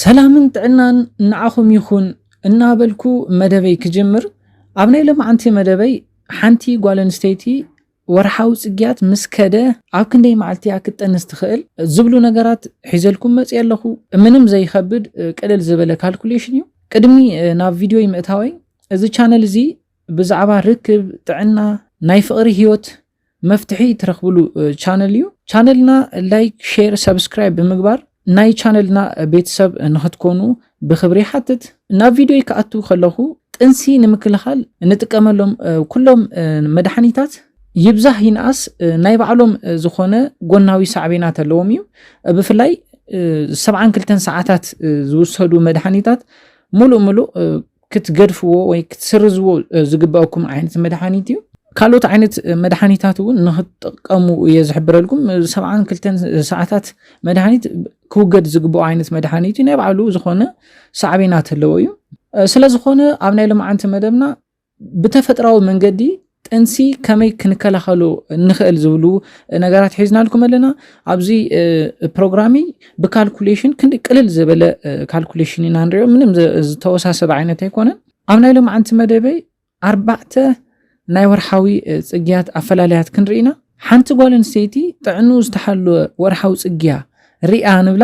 ሰላምን ጥዕናን ንዓኹም ይኹን እናበልኩ መደበይ ክጅምር ኣብ ናይ ሎምዓንቲ መደበይ ሓንቲ ጓል ኣንስተይቲ ወርሓዊ ጽግያት ምስ ከደ ኣብ ክንደይ መዓልቲ እያ ክትጠንስ ትኽእል ዝብሉ ነገራት ሒዘልኩም መጽየ ኣለኹ። ምንም ዘይኸብድ ቅልል ዝበለ ካልኩሌሽን እዩ። ቅድሚ ናብ ቪድዮይ ምእታወይ እዚ ቻነል እዚ ብዛዕባ ርክብ፣ ጥዕና፣ ናይ ፍቕሪ ህይወት መፍትሒ ትረኽብሉ ቻነል እዩ። ቻነልና ላይክ፣ ሼር፣ ሰብስክራይብ ብምግባር ናይ ቻነልና ቤተሰብ ንክትኮኑ ብክብሪ ይሓትት። ናብ ቪድዮይ ክኣቱ ከለኹ ጥንሲ ንምክልኻል እንጥቀመሎም ኩሎም መድሓኒታት ይብዛህ ይንኣስ ናይ ባዕሎም ዝኾነ ጎናዊ ሳዕቤናት ኣለዎም እዩ። ብፍላይ ሰብዓን ክልተን ሰዓታት ዝውሰዱ መድሓኒታት ሙሉእ ሙሉእ ክትገድፍዎ ወይ ክትስርዝዎ ዝግበኣኩም ዓይነት መድሓኒት እዩ ካልኦት ዓይነት መድሓኒታት እውን ንክትጥቀሙ እየ ዝሕብረልኩም ሰብዓን ክልተን ሰዓታት መድሓኒት ክውገድ ዝግብኦ ዓይነት መድሓኒት እዩ ናይ ባዕሉ ዝኾነ ሳዕቤናት ኣለዎ እዩ ስለዝኾነ ኣብ ናይ ልምዓንቲ መደብና ብተፈጥራዊ መንገዲ ጥንሲ ከመይ ክንከላኸሎ ንኽእል ዝብሉ ነገራት ሒዝናልኩም ኣለና ኣብዚ ፕሮግራሚ ብካልኩሌሽን ክንዲ ቅልል ዝበለ ካልኩሌሽን ኢና ንሪኦ ምንም ዝተወሳሰበ ዓይነት ኣይኮነን ኣብ ናይ ሎምዓንቲ መደበይ ኣርባዕተ ናይ ወርሓዊ ፅግያት ኣፈላለያት ክንርኢና ሓንቲ ጓል ኣንስተይቲ ጥዕኑ ዝተሓለወ ወርሓዊ ፅግያ ሪኣ ንብላ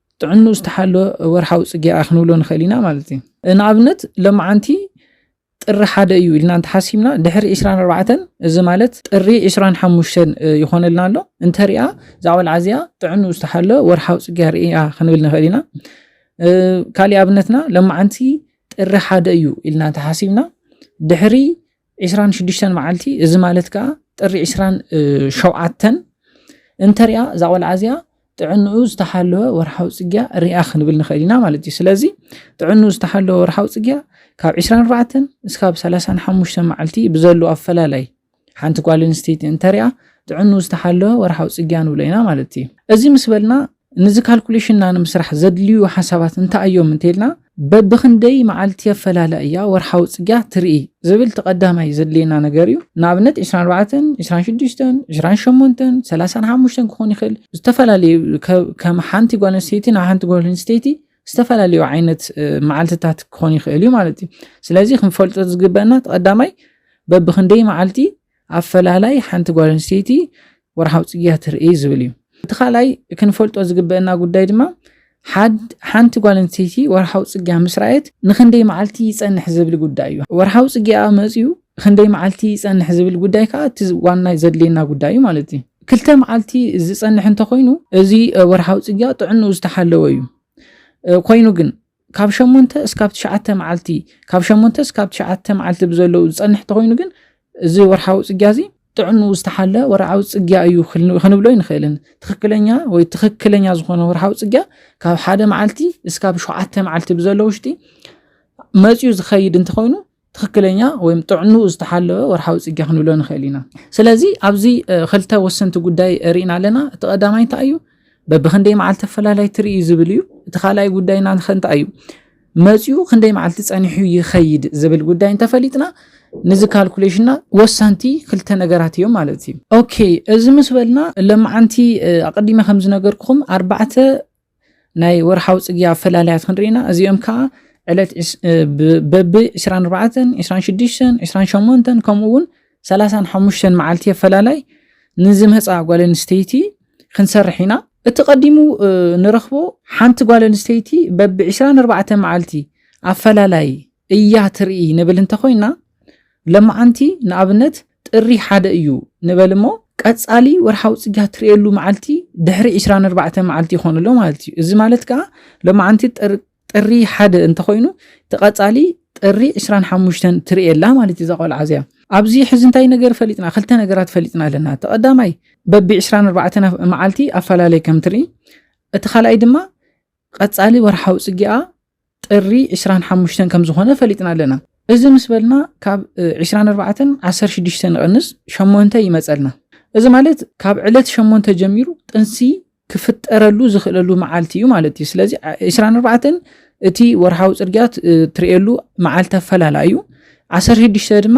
ጥዕንኡ ዝተሓለወ ወርሓዊ ጽግያኣ ክንብሎ ንኽእል ኢና ማለት እዩ። ንኣብነት ሎምዓንቲ ጥሪ ሓደ እዩ ኢልና እንተሓሲብና ድሕሪ ዕስራን ኣርባዕተን እዚ ማለት ጥሪ ዕስራን ሓሙሽተን ይኾነልና ኣሎ እንተሪኣ እዛ ቆልዓ እዚኣ ጥዕንኡ ዝተሓለወ ወርሓዊ ጽግያ ርእያ ክንብል ንኽእል ኢና። ካሊእ ኣብነትና ሎምዓንቲ ጥሪ ሓደ እዩ ኢልና እንተሓሲብና ድሕሪ ዕስራን ሽዱሽተን መዓልቲ እዚ ማለት ከዓ ጥሪ ዕስራን ሸውዓተን እንተሪኣ እዛ ቆልዓ እዚኣ ጥዕንኡ ዝተሓለወ ወርሓዊ ፅግያ ሪኣ ክንብል ንኽእል ኢና ማለት እዩ ስለዚ ጥዕንኡ ዝተሓለወ ወርሓዊ ፅግያ ካብ 24 እስካብ 35 መዓልቲ ብዘሉ ኣፈላላይ ሓንቲ ጓል ኣንስተይቲ እንተሪኣ ጥዕንኡ ዝተሓለወ ወርሓዊ ፅግያ ንብሎ ኢና ማለት እዩ እዚ ምስ በልና ንዚ ካልኩሌሽንና ንምስራሕ ዘድልዩ ሓሳባት እንታይ እዮም እንተይልና በብኽንደይ መዓልቲ ኣፈላላይ እያ ወርሓዊ ፅግያ ትርኢ ዝብል እቲ ቀዳማይ ዘድልየና ነገር እዩ ንኣብነት 24 26 28 35 ክኾን ይኽእል ዝተፈላለዩ ከም ሓንቲ ጓል ኣንስተይቲ ናብ ሓንቲ ጓል ኣንስተይቲ ዝተፈላለዩ ዓይነት መዓልትታት ክኾን ይኽእል እዩ ማለት እዩ ስለዚ ክንፈልጦ ዝግበአና እቲ ቀዳማይ በብኽንደይ መዓልቲ ኣፈላላይ ሓንቲ ጓል ኣንስተይቲ ወርሓዊ ጽግያ ትርእይ ዝብል እዩ። እቲ ካልኣይ ክንፈልጦ ዝግበአና ጉዳይ ድማ ሓንቲ ጓል ኣንስተይቲ ወርሓዊ ጽግያ ምስ ረኣየት ንክንደይ መዓልቲ ይጸንሕ ዝብል ጉዳይ እዩ። ወርሓዊ ጽግያኣ መጽዩ ክንደይ መዓልቲ ይጸንሕ ዝብል ጉዳይ ከዓ እቲ ዋና ዘድልየና ጉዳይ እዩ ማለት እዩ። ክልተ መዓልቲ ዝጸንሕ እንተኾይኑ እዚ ወርሓዊ ጽግያ ጥዕንኡ ዝተሓለወ እዩ። ኮይኑ ግን ካብ ሸሞንተ እስካብ ትሽዓተ መዓልቲ ካብ ሸሞንተ እስካብ ትሽዓተ መዓልቲ ብዘለዉ ዝጸንሕ እንተኾይኑ ግን እዚ ወርሓዊ ጽግያ እዚ ጥዕንኡ ዝተሓለ ወርዓዊ ጽግያ እዩ ክንብሎ ይንኽእልን ትኽክለኛ ወይ ትኽክለኛ ዝኾነ ወርሓዊ ጽግያ ካብ ሓደ መዓልቲ እስካብ ሸውዓተ መዓልቲ ብዘለዉ ውሽጢ መጽዩ ዝኸይድ እንተኾይኑ ትኽክለኛ ወይም ጥዕንኡ ዝተሓለወ ወርሓዊ ፅግያ ክንብሎ ንኽእል ኢና። ስለዚ ኣብዚ ክልተ ወሰንቲ ጉዳይ ርኢና ኣለና። እቲ ቀዳማይ እንታይ እዩ? በብክንደይ መዓልቲ ኣፈላላይ ትርኢ ዝብል እዩ። እቲ ካልኣይ ጉዳይና እንታይ እዩ? መፅኡ ክንደይ መዓልቲ ፀኒሑ ይኸይድ ዝብል ጉዳይ እንተፈሊጥና ንዚ ካልኩሌሽንና ወሰንቲ ክልተ ነገራት እዮም ማለት እዩ። ኦኬ እዚ ምስ በልና ለማዓንቲ ኣቐዲመ ከም ዝነገርኩኹም ኣርባዕተ ናይ ወርሓዊ ጽግያ ኣፈላላያት ክንርኢ ኢና እዚኦም ከዓ ዕለት በቢ 24 26 28 ከምኡ እውን 35 መዓልቲ ኣፈላላይ ንዝመፃ ጓል ኣንስተይቲ ክንሰርሕ ኢና እቲ ቀዲሙ ንረኽቦ ሓንቲ ጓል ኣንስተይቲ በቢ 24 መዓልቲ ኣፈላላይ እያ ትርኢ ንብል እንተኮይና ለማዓንቲ ንኣብነት ጥሪ ሓደ እዩ ንበል እሞ ቀፃሊ ወርሓዊ ፅግያት ትርእየሉ መዓልቲ ድሕሪ ዕስራን ኣርባዕተን መዓልቲ ይኾን ኣሎ ማለት እዩ። እዚ ማለት ከዓ ለማዓንቲ ጥሪ ሓደ እንተኾይኑ እቲ ቀፃሊ ጥሪ ዕስራን ሓሙሽተን ትርእየላ ማለት እዩ እዛ ቆልዓ እዚኣ። ኣብዚ ሕዚ እንታይ ነገር ፈሊጥና ክልተ ነገራት ፈሊጥና ኣለና። እቲ ቀዳማይ በቢ ዕስራን ኣርባዕተን መዓልቲ ኣፈላለይ ከም ትርኢ፣ እቲ ካልኣይ ድማ ቐፃሊ ወርሓዊ ፅጌኣ ጥሪ ዕስራን ሓሙሽተን ከምዝኾነ ፈሊጥና ኣለና። እዚ ምስ በልና ካብ ዕስራን ኣርባዕተን ዓሰርተ ሽዱሽተ ንቐንስ ሸሞንተ ይመፀልና። እዚ ማለት ካብ ዕለት ሸሞንተ ጀሚሩ ጥንሲ ክፍጠረሉ ዝኽእለሉ መዓልቲ እዩ ማለት እዩ። ስለዚ ዕስራን ኣርባዕተን እቲ ወርሓዊ ፅርግያ ትርእየሉ መዓልቲ ኣፈላላ እዩ። ዓሰርተ ሽዱሽተ ድማ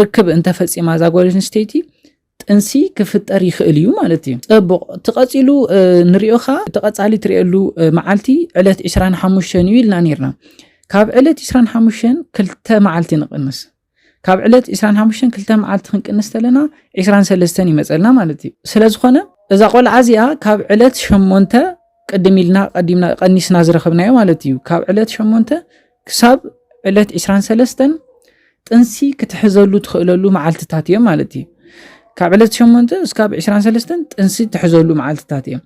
ርክብ እንተፈፂማ እዛ ጓል ኣንስተይቲ ጥንሲ ክፍጠር ይኽእል እዩ ማለት እዩ ፅቡቕ ትቐፂሉ ንሪኦ ኸዓ ተቐፃሊ ትሪእሉ መዓልቲ ዕለት 25 እዩ ኢልና ነርና ካብ ዕለት 25 ክልተ መዓልቲ ንቕንስ ካብ ዕለት 25 ክልተ መዓልቲ ክንቅንስ ተለና 23 ይመፀልና ማለት እዩ ስለ ዝኾነ እዛ ቆልዓ እዚኣ ካብ ዕለት 8 ቅድም ኢልና ቀዲምና ቀኒስና ዝረኸብናዮ ማለት እዩ ካብ ዕለት 8 ክሳብ ዕለት ዕስራን ሰለስተን ጥንሲ ክትሕዘሉ ትኽእለሉ መዓልትታት እዮም ማለት እዩ ካብ ዕለት ሸሞንተ እስካብ ዕስራን ሰለስተን ጥንሲ ትሕዘሉ መዓልትታት እዮም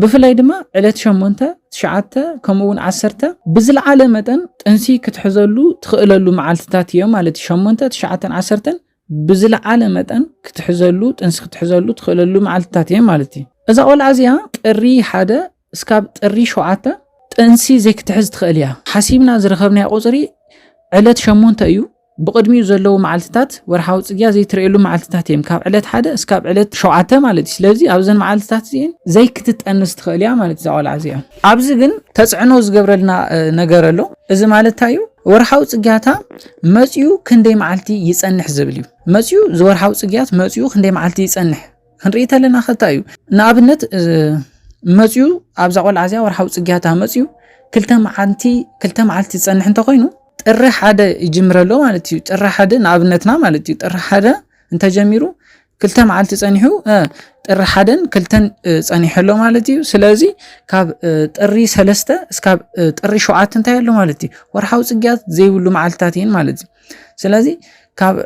ብፍላይ ድማ ዕለት ሸሞንተ ትሽዓተ ከምኡ እውን ዓሰርተ ብዝለዓለ መጠን ጥንሲ ክትሕዘሉ ትኽእለሉ መዓልትታት እዮም ማለት እዩ ሸሞንተ ትሽዓተን ዓሰርተን ብዝለዓለ መጠን ክትሕዘሉ ጥንሲ ክትሕዘሉ ትኽእለሉ መዓልትታት እዮም ማለት እዩ እዛ ቆልዓ እዚኣ ጥሪ ሓደ እስካብ ጥሪ ሸውዓተ ጥንሲ ዘይክትሕዝ ትኽእል እያ። ሓሲብና ዝረኸብናዮ ቁፅሪ ዕለት ሸሞንተ እዩ። ብቕድሚኡ ዘለዉ መዓልትታት ወርሓዊ ፅግያ ዘይትርእየሉ መዓልትታት እየም። ካብ ዕለት ሓደ እስካብ ዕለት ሸውዓተ ማለት እዩ። ስለዚ ኣብዘን መዓልትታት እዚኤን ዘይክትጠንስ ትኽእል እያ ማለት እዩ እዛ ቆልዓ እዚኣ። ኣብዚ ግን ተፅዕኖ ዝገብረልና ነገር ኣሎ። እዚ ማለት እንታይ እዩ? ወርሓዊ ፅግያታ መፂኡ ክንደይ መዓልቲ ይፀንሕ ዝብል እዩ። መፂኡ ዝወርሓዊ ፅግያት መፂኡ ክንደይ መዓልቲ ይፀንሕ ክንርኢ ተለና ከታ እዩ ንኣብነት መፅዩ ኣብዛ ቆልዓ እዚኣ ወርሓዊ ፅግያታ መፅዩ ክልተ መዓልቲ ክልተ መዓልቲ ዝፀንሕ እንተኮይኑ ጥሪ ሓደ ይጅምረ ኣሎ ማለት እዩ ጥሪ ሓደ ንኣብነትና ማለት እዩ ጥሪ ሓደ እንተጀሚሩ ክልተ መዓልቲ ፀኒሑ ጥሪ ሓደን ክልተን ፀኒሑ ኣሎ ማለት እዩ ስለዚ ካብ ጥሪ ሰለስተ እስካብ ጥሪ ሸውዓተ እንታይ ኣሎ ማለት እዩ ወርሓዊ ፅግያት ዘይብሉ መዓልትታት እየን ማለት እዩ ስለዚ ካብ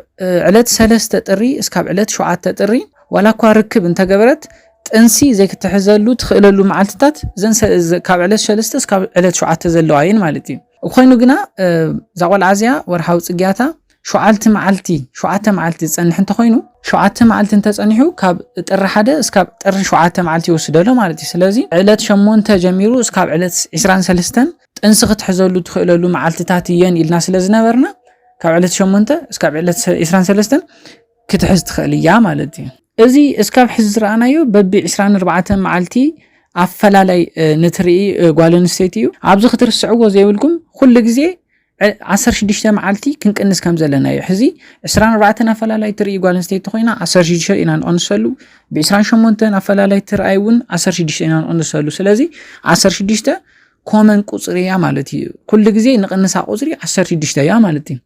ዕለት ሰለስተ ጥሪ እስካብ ዕለት ሸውዓተ ጥሪ ዋላ እኳ ርክብ እንተገበረት ጥንሲ ዘይክትሕዘሉ ትኽእለሉ መዓልትታት ካብ ዕለት ሰለስተ እስካብ ዕለት ሸውዓተ ዘለዋ እየን ማለት እዩ ኮይኑ ግና እዛ ቆልዓ እዚያ ወርሓዊ ፅግያታ ሸዓልቲ መዓልቲ ሸዓተ መዓልቲ ዝፀንሕ እንተኮይኑ ሸዓተ መዓልቲ እንተፀኒሑ ካብ ጥሪ ሓደ እስካብ ጥሪ ሸዓተ መዓልቲ ይወስደሎ ማለት እዩ ስለዚ ዕለት ሸሞንተ ጀሚሩ እስካብ ዕለት 23 ጥንሲ ክትሕዘሉ ትኽእለሉ መዓልትታት እየን ኢልና ስለ ዝነበርና ካብ ዕለት ሸሞንተ እስካብ ዕለት ዕስራን ሰለስተን ክትሕዝ ትኽእል እያ ማለት እዩ እዚ እስካብ ሕዚ ዝረኣናዮ በቢ ዕስራን ኣርባዕተን መዓልቲ ኣፈላላይ ንትርኢ ጓል ኣንስተይቲ እዩ ኣብዚ ክትርስዕዎ ዘይብልኩም ኩሉ ግዜ ዓሰርተ ሽዱሽተ መዓልቲ ክንቅንስ ከም ዘለና እዩ ሕዚ ዕስራን ኣርባዕተን ኣፈላላይ ትርኢ ጓል ኣንስተይቲ ኮይና ዓሰርተ ሽዱሽተ ኢና ንቐንሰሉ ብዕስራን ሸሞንተን ኣፈላላይ ትርኣይ እውን ዓሰርተ ሽዱሽተ ኢና ንቐንሰሉ ስለዚ ዓሰርተ ሽዱሽተ ኮመን ቁፅሪ እያ ማለት እዩ ኩሉ ግዜ ንቕንሳ ቁፅሪ 16 እያ ማለት እዩ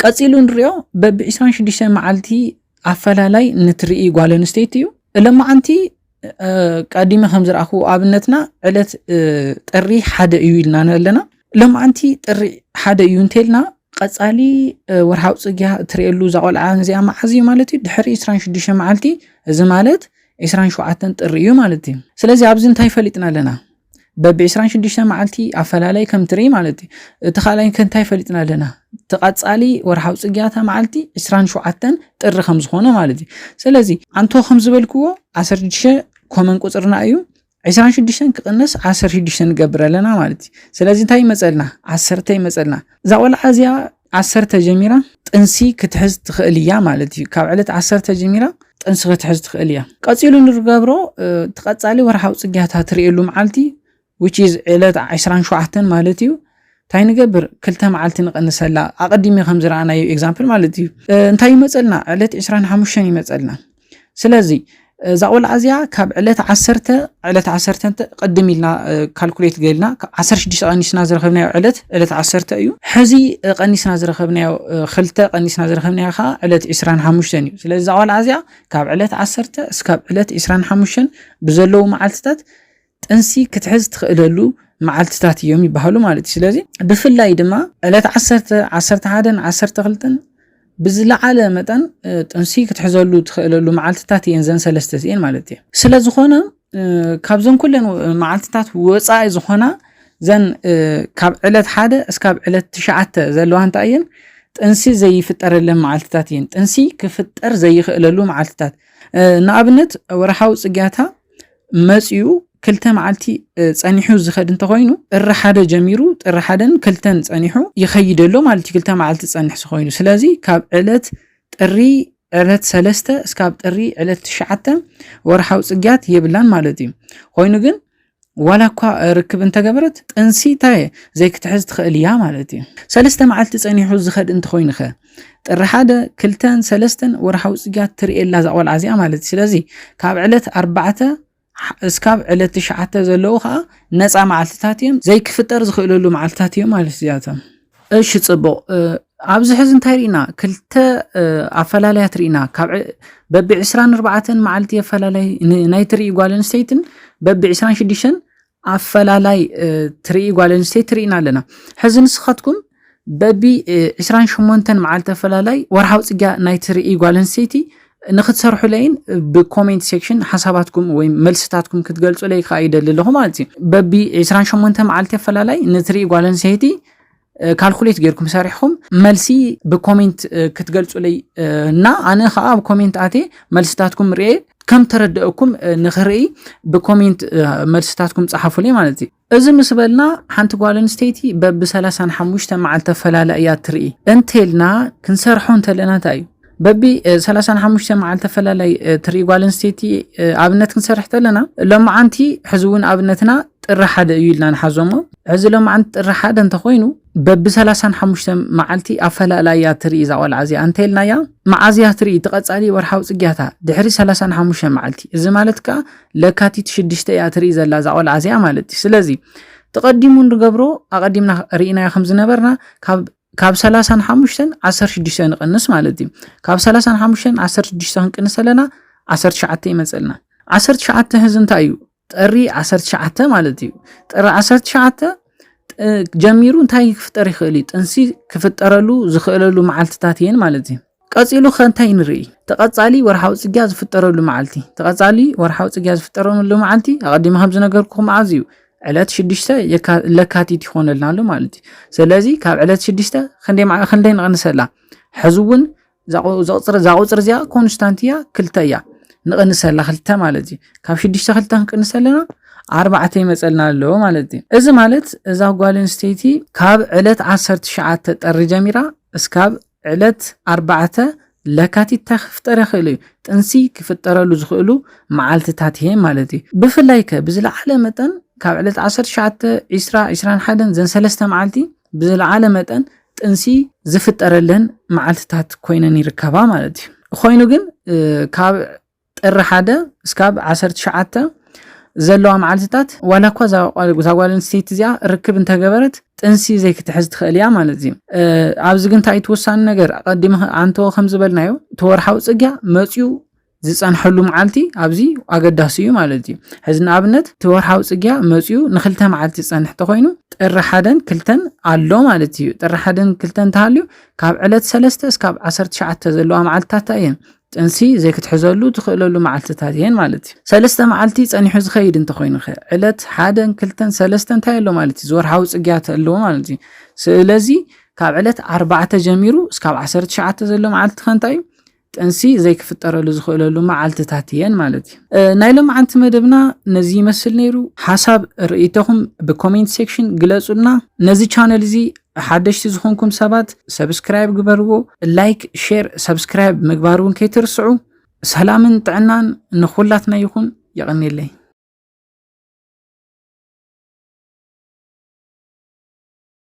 ቀፂሉ ንሪኦ በቢ 26 መዓልቲ ኣፈላላይ ንትርኢ ጓል ኣንስተይቲ እዩ እለማዓንቲ ቀዲመ ከም ዝረኣኹ ኣብነትና ዕለት ጥሪ ሓደ እዩ ኢልና ኣለና ለማዓንቲ ጥሪ ሓደ እዩ እንተልና ቀፃሊ ወርሃዊ ፅግያ እትርእየሉ እዛ ቆልዓ እዚኣ መዓዝ እዩ ማለት እዩ ድሕሪ 26 መዓልቲ እዚ ማለት 27 ጥሪ እዩ ማለት እዩ ስለዚ ኣብዚ እንታይ ፈሊጥና ኣለና በብ 26 መዓልቲ ኣፈላለይ ከም ትርኢ ማለት እዩ እቲ ካልኣይ ከንታይ ፈሊጥና ኣለና እቲ ቀጻሊ ወርሓዊ ጽግያታ መዓልቲ 27 ጥሪ ከም ዝኾነ ማለት እዩ ስለዚ ኣንቶ ከም ዝበልክዎ 16 ኮመን ቁጽርና እዩ 26 ክቕነስ 16 ንገብር ኣለና ማለት እዩ ስለዚ እንታይ ይመፀልና ዓሰርተ ይመፀልና እዛ ቆልዓ እዚኣ ዓሰርተ ጀሚራ ጥንሲ ክትሕዝ ትኽእል እያ ማለት እዩ። ካብ ዕለት ዓሰርተ ጀሚራ ጥንሲ ክትሕዝ ትኽእል እያ። ቀጺሉ ንርገብሮ ትቐጻሊ ወርሓዊ ጽግያታ ትርእየሉ መዓልቲ which is ዕለት 27 ማለት እዩ እንታይ ንገብር ክልተ መዓልቲ ንቐንሰላ ኣቐዲሚ ከም ዝረኣናዮ ኤግዛምፕል ማለት እዩ እንታይ ይመፀልና ዕለት 25 ይመፀልና ስለዚ እዛ ቆልዓ እዚኣ ካብ ዕለት ዓሰርተ ዕለት ዓሰርተ እንተ ቅድም ኢልና ካልኩሌት ገልና ዓሰርተ ሽዱሽተ ቀኒስና ዝረኸብናዮ ዕለት ዕለት ዓሰርተ እዩ ሕዚ ቀኒስና ዝረኸብናዮ ክልተ ቀኒስና ዝረኸብናዮ ከዓ ዕለት ዕስራን ሓሙሽተን እዩ ስለዚ እዛ ቆልዓ እዚኣ ካብ ዕለት ዓሰርተ እስካብ ዕለት ዕስራን ሓሙሽተን ብዘለዉ መዓልትታት ጥንሲ ክትሕዝ ትኽእለሉ መዓልትታት እዮም ይበሃሉ ማለት እዩ። ስለዚ ብፍላይ ድማ ዕለት ዓሰርተ፣ ዓሰርተ ሓደን ዓሰርተ ክልተን ብዝለዓለ መጠን ጥንሲ ክትሕዘሉ ትኽእለሉ መዓልትታት እየን ዘን ሰለስተ እዚኤን ማለት እየ ስለ ዝኾነ ካብዘን ኩለን መዓልትታት ወፃኢ ዝኾና ዘን ካብ ዕለት ሓደ እስካብ ዕለት ትሽዓተ ዘለዋ እንታይ እየን ጥንሲ ዘይፍጠረለን መዓልትታት እየን ጥንሲ ክፍጠር ዘይኽእለሉ መዓልትታት ንኣብነት ወርሓዊ ፅግያታ መፅኡ ክልተ መዓልቲ ፀኒሑ ዝኸድ እንተኾይኑ ጥሪ ሓደ ጀሚሩ ጥሪ ሓደን ክልተን ፀኒሑ ይኸይድ ኣሎ ማለት እዩ። ክልተ መዓልቲ ዝፀንሕ ዝኾይኑ ስለዚ ካብ ዕለት ጥሪ ዕለት ሰለስተ እስካብ ጥሪ ዕለት ትሽዓተ ወርሓዊ ፅግያት የብላን ማለት እዩ። ኮይኑ ግን ዋላ እኳ ርክብ እንተገበረት ጥንሲ እንታይ ዘይክትሕዝ ትኽእል እያ ማለት እዩ። ሰለስተ መዓልቲ ፀኒሑ ዝኸድ እንተኾይኑ ኸ ጥሪ ሓደ ክልተን ሰለስተን ወርሓዊ ፅግያት ትርእየላ እዛ ቆልዓ እዚኣ ማለት እዩ ስለዚ ካብ ዕለት ኣርባዕተ እስካብ ዕለት ትሽዓተ ዘለዉ ከዓ ነፃ መዓልትታት እዮም ዘይክፍጠር ዝኽእለሉ መዓልትታት እዮም ማለት እዚኣቶም እሺ ፅቡቕ ኣብዚ ሕዚ እንታይ ርኢና ክልተ ኣፈላላያት ርኢና ካብ በቢ ዕስራን ኣርባዕተን መዓልቲ ኣፈላላይ ናይ ትርኢ ጓል ኣንስተይትን በቢ ዕስራን ሽዱሽተን ኣፈላላይ ትርኢ ጓል ኣንስተይቲ ትርኢና ኣለና ሕዚ ንስኻትኩም በቢ 28 መዓልቲ ኣፈላላይ ወርሓዊ ፅግያ ናይ ትርኢ ጓል ኣንስተይቲ ንክትሰርሑለይን ብኮሜንት ሴክሽን ሓሳባትኩም ወይ መልስታትኩም ክትገልጹለይ ከዓ ይደሊ ኣለኹ ማለት እዩ በቢ 28 መዓልቲ ኣፈላላይ ንትርኢ ጓል ኣንስተይቲ ካልኩሌት ጌርኩም ሰሪሕኹም መልሲ ብኮሜንት ክትገልጹለይ እና ኣነ ከዓ ኣብ ኮሜንት ኣቴ መልስታትኩም ርኤ ከም ተረድአኩም ንክርኢ ብኮሜንት መልስታትኩም ፀሓፉለይ ማለት እዩ እዚ ምስ በልና ሓንቲ ጓል ኣንስተይቲ በቢ 35 መዓልቲ ተፈላለ እያ ትርኢ እንተልና ክንሰርሖ እንተለና እንታይ እዩ በቢ ሰላሳን ሓሙሽተ መዓልቲ ተፈላላይ ትርኢ ጓል ኣንስተይቲ ኣብነት ክንሰርሕ ተለና ሎማዓንቲ ሕዚ እውን ኣብነትና ጥሪ ሓደ እዩ ኢልና ንሓዞሞ ሕዚ ሎማዓንቲ ጥሪ ሓደ እንተኮይኑ በቢ ሰላሳን ሓሙሽተ መዓልቲ ኣፈላላያ ትርኢ እዛ ቆልዓ እዚኣ እንተይልናያ መዓዝያ ትርኢ ትቐፃሊ ወርሓዊ ፅግያታ ድሕሪ ሰላሳን ሓሙሽተ መዓልቲ እዚ ማለት ከዓ ለካቲት ሽድሽተ እያ ትርኢ ዘላ እዛ ቆልዓ እዚኣ ማለት እዩ ስለዚ ተቐዲሙ ንገብሮ ኣቐዲምና ርኢናዮ ከም ዝነበርና ካብ ካብ ሰላሳ ንሓሙሽተን ዓሰርተ ሽዱሽተ ንቐንስ ማለት እዩ። ካብ ሰላሳ ንሓሙሽተን ዓሰርተ ሽዱሽተ ክንቅንስ ኣለና ዓሰርተ ትሽዓተ ይመፀልና። ዓሰርተ ትሽዓተ ህዚ እንታይ እዩ? ጥሪ ዓሰርተ ትሽዓተ ማለት እዩ። ጥሪ ዓሰርተ ትሽዓተ እ፣ ጀሚሩ እንታይ ክፍጠር ይኽእል እዩ? ጥንሲ ክፍጠረሉ ዝኽእለሉ መዓልትታት እየን ማለት እዩ። ቀጺሉ ከ እንታይ ንርኢ? ተቐጻሊ ወርሓዊ ጽግያ ዝፍጠረሉ መዓልቲ። ተቐጻሊ ወርሓዊ ጽግያ ዝፍጠረሉ መዓልቲ ኣቐዲመ ከም ዝነገርኩኹም መዓዝ እዩ? ዕለት ሽዱሽተ ለካቲት ይኾነልና ኣሎ ማለት እዩ። ስለዚ ካብ ዕለት ሽዱሽተ ክንደይ ንቕንሰላ? ሕዚ እውን እዛ ቁፅሪ እዚኣ ኮንስታንት እያ ክልተ እያ ንቕንሰላ ክልተ ማለት እዩ። ካብ ሽዱሽተ ክልተ ክንቅንሰ ኣለና ኣርባዕተ ይመፀልና ኣሎ ማለት እዩ። እዚ ማለት እዛ ጓል ኣንስተይቲ ካብ ዕለት ዓሰርተ ትሽዓተ ጥሪ ጀሚራ እስካብ ዕለት ኣርባዕተ ለካቲት ታይ ክፍጠር ይኽእል እዩ? ጥንሲ ክፍጠረሉ ዝኽእሉ መዓልትታት'የ ማለት እዩ። ብፍላይ ከ ብዝለዓለ መጠን ካብ ዕለት ዓሰርተ ትሽዓተ፣ ዕስራ፣ ዕስራን ሓደን ዘን ሰለስተ መዓልቲ ብዝለዓለ መጠን ጥንሲ ዝፍጠረለን መዓልትታት ኮይነን ይርከባ ማለት እዩ። ኾይኑ ግን ካብ ጥሪ ሓደ እስካብ ዓሰርተ ትሽዓተ ዘለዋ መዓልቲታት ዋላ እኳ እዛ ጓል ኣንስተይቲ እዚኣ ርክብ እንተገበረት ጥንሲ ዘይክትሕዝ ትኽእል እያ ማለት እዩ። ኣብዚ ግን እንታይ ትወሳኒ ነገር ቀዲመ ኣንተወ ከም ዝበልናዮ እቲ ወርሓዊ ጽግያ መጽዩ ዝጸንሐሉ መዓልቲ ኣብዚ ኣገዳሲ እዩ ማለት እዩ ሕዚ ንኣብነት እቲ ወርሓዊ ጽግያ መጽኡ ንክልተ መዓልቲ ዝጸንሕ ተኮይኑ ጥሪ ሓደን ክልተን ኣሎ ማለት እዩ ጥሪ ሓደን ክልተን ተሃልዩ ካብ ዕለት ሰለስተ እስካብ ዓሰርተ ትሽዓተ ዘለዋ መዓልትታት እየን ጥንሲ ዘይክትሕዘሉ ትኽእለሉ መዓልትታት እየን ማለት እዩ። ሰለስተ መዓልቲ ጸኒሑ ዝኸይድ እንተኾይኑኸ? ዕለት ሓደን ክልተን ሰለስተን እንታይ ኣሎ ማለት እዩ? ዝወርሓዊ ጽግያት ኣለዎ ማለት እዩ። ስለዚ ካብ ዕለት ኣርባዕተ ጀሚሩ እስካብ ዓሰርተ ትሽዓተ ዘሎ መዓልትኸ እንታይ እዩ? ጥንሲ ዘይክፍጠረሉ ዝኽእለሉ መዓልትታት እየን ማለት እዩ። ናይ ሎማዓንቲ መደብና ነዚ ይመስል ነይሩ። ሓሳብ ርእይቶኹም ብኮሜንት ሴክሽን ግለጹልና። ነዚ ቻነል እዚ ሓደሽቲ ዝኾንኩም ሰባት ሰብስክራይብ ግበርዎ፣ ላይክ፣ ሼር፣ ሰብስክራይብ ምግባር እውን ከይትርስዑ። ሰላምን ጥዕናን ንኹላትና ይኹን። የቐኔለይ።